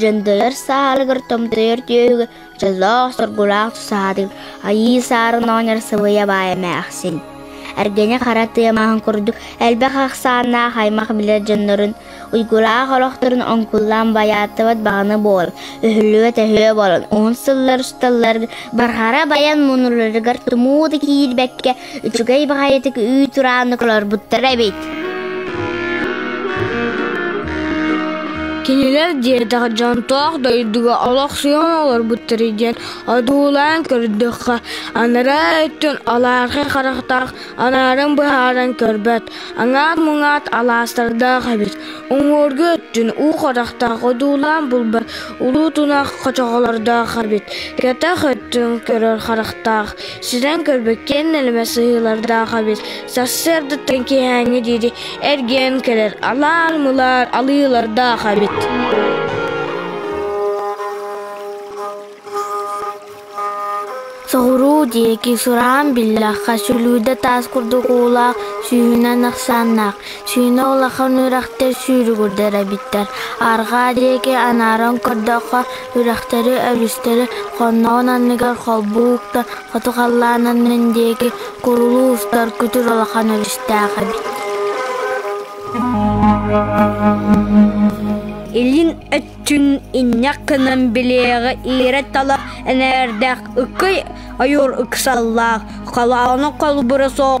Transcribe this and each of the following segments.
Дьэндэлэр саалыгар томтойор түөһүгэ дьоллоох соргулаах тусаатык Айыы Саарын оонньор сыбыйа баай эмээхсин. Эргэнэ хара тыамаһын курдук элбэх ахсааннаах аймах билэр дьоннорун, уйгулаах олохторун оҥкуллаан байааттыбат баҕана буол, өһүллүбэт өһүө болон, уһун сыллар усталлар барҕара байан муннуларыгар тумуу да киирбэккэ Үчүгэй баҕайытык үүт турааннык олорбуттара эбит Кинилэр диэтэх дьонтоох дойдуга олохсуйан олорбуттар диэн одуулаан көрдөххө, анараа өттүн алаархай харахтаах анаарын быһааран көрбөт, аҥаат-муҥаат алаастардаах эбит. Уҥуоргу өттүн уу харахтаах одуулаан булбат улуу тунах хочоҕолордоох эбит. Кэтэх өттүн көрөр харахтаах, Сүрэн көрбүккин нэлэмэ сыһыылардаах эбит Сарсыардаттан киэһээҥҥи диэри эргийэн кэлэр Алаар-мылаар алыылардаах эбит Соҕуруу диэки сураан биллэххэ, сүлүүдэ таас курдук уулаах, сүүһүнэн ахсааннаах, Сүүнэ улахан үрэхтэр сүүрүгүрдэр эбиттэр. Арҕаа диэки анааран көрдөххө, үрэхтэри, өрүстэри хонноҕун анныгар холбуу уктан, хоту халлаан аннын диэки курулуу устар күтүр улахан өрүстээх эбит Илин өттүн инньэх гынан билиэҕи иирэ-тала энээрдээх ыккый ойуур ыксаллаах, халааны холбура суох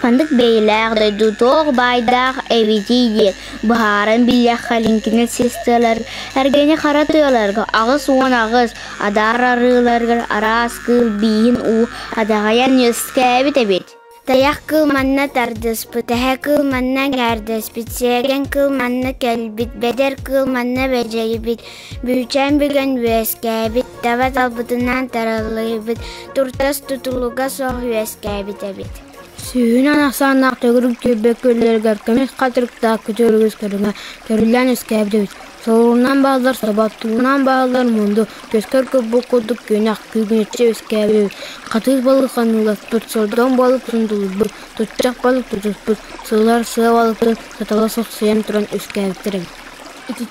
Ханнык бэйэлээх дойду туох баайдаах эбитий диэн быһааран билиэххэ лиҥкинэр систиэмэлэр эргэни хара тыаларга аҕыс уон аҕыс адаар арыыларыгар араас кыыл бииһин уу адаҕайан үөскээбит эбит. Тайах кыыл манна тардыспыт, эһэ кыыл манна эҥээрдэспит, сиэргэн кыыл манна кэлбит, бэдэр кыыл манна бэдьэйбит, Бүчээн бүгэн үөскээбит, таба талбытынан тараллыыбыт, туртас тутулуга суох үөскээбит эбит. Сүүһүн ахсааннаах төгүрүк түөлбэ күөллэригэр көмүс хатырыктаах күтүөрүгүс көрүҥэ көрүллэн үөскээбит эбит. Солунан бааллар соботтуунан бааллар мунду, көскөр курбук курдук күнэх күүгүнүччү үөскээбит эбит. Хатыыс балык ханныылар тут сордоҥ балык сундулуйбут, тутчах балык тутуспут, сылар сыа балыктарын сатала сохсуйан туран үөскээбиттэр эбит.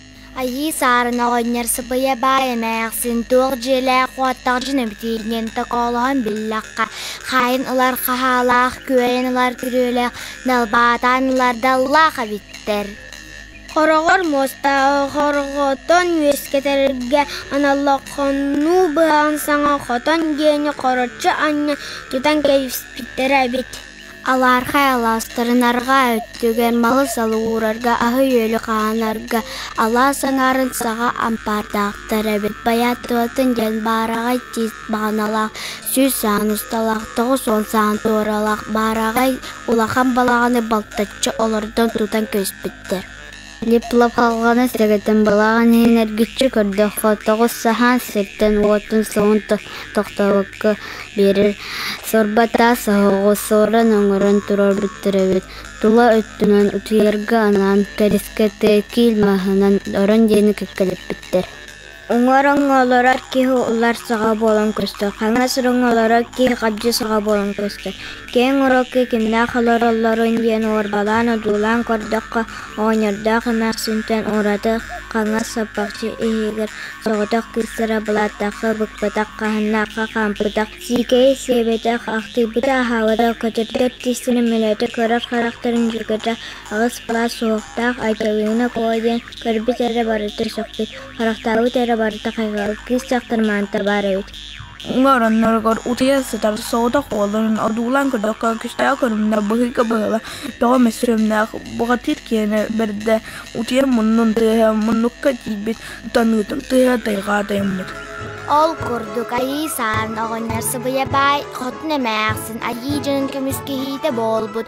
Айыы Саарын оҕонньор сапыйа баай эмээхсин туох дьиэлээх-уоттаах дьоно эбитий диэн токоолоһон биллэххэ, хаайын ылар хаһаалаах, күөйэн ылар күрүөлээх, далбаатаан ылар даллаах эбиттэр. Хороҕор муостааҕы хорҕотон үөскэтэргэ аналлахханнуу быһаҕын саҥа хотон диэни хороччу анньа тутан кэбиспиттэрэ эбит Алаархай алаастарын арҕаа өттүгэр малын салгуурарга, аһы-үөлү хаанарга алаас аҥаарын саҕа ампаардаахтар эбит. Байаатырбаттан диэн баараҕай тиис баҕаналаах, сүүс саан усталаах, тоҕус уон саан туоралаах, баараҕай улахан балаҕаны балтаччы олордон тутан көспүттэр Хлепловхаҕа сэрэтэн балаҕан иһин эргиччи көрдөххө, тоҕус саһаан сиртэн-уотун суон тохтообокко биэрэр. Сорбатаат соһоҕо сорон-оҥорон турар бөттөрөбүт тула өттүнэн утуйарга анаан кэрискэ киил маһынан орон диэни кэккэлэппиттэр Уҥуоруҥҥалара киһи ылар саҕа буолан көстөр, хаҥас ороҥҥолоро киһи хабдьы саҕа буолан көстөр. Киэҥ урукку кимнээх олороллоруй диэн уорбалаан одуулаан көрдөххө, оҕонньордоох эмээхсинтэн ураты хаҥас саппахчы иһигэр соҕотох кыыстара былааттахха быкпатах, хаһыннаахха хаампатах, сиикэйэ сиэбэтэх, ахтыйбыта аһаабата, көтөрдөр тистэнэ мөлөөтө көрөр харахтарын дьүкэтэ аҕыс былаас суохтаах Айталыына куо диэн Көрбүт эрэ барыта сөхпүт, харахтаабыт эрэ барыта хайҕал, кыыс дьахтар маанта баар эбит оҥоронноругар утуйа сытар соҕотох уолларын одуулаан көрдөххө күүстээх көрүҥнээх быһыыга быһыыла тоҕо эмэ сүрүннээх бухатыыр киэнэ бэрдэ утуйар муннун тыаһа муннукка тиийбит таныытын тыаһа тайҕаа тайыммыт ол курдук айыы саан оҕонньор сыбыйа баай хотун эмээхсин айыы дьонун көмүскэһиитэ буолбут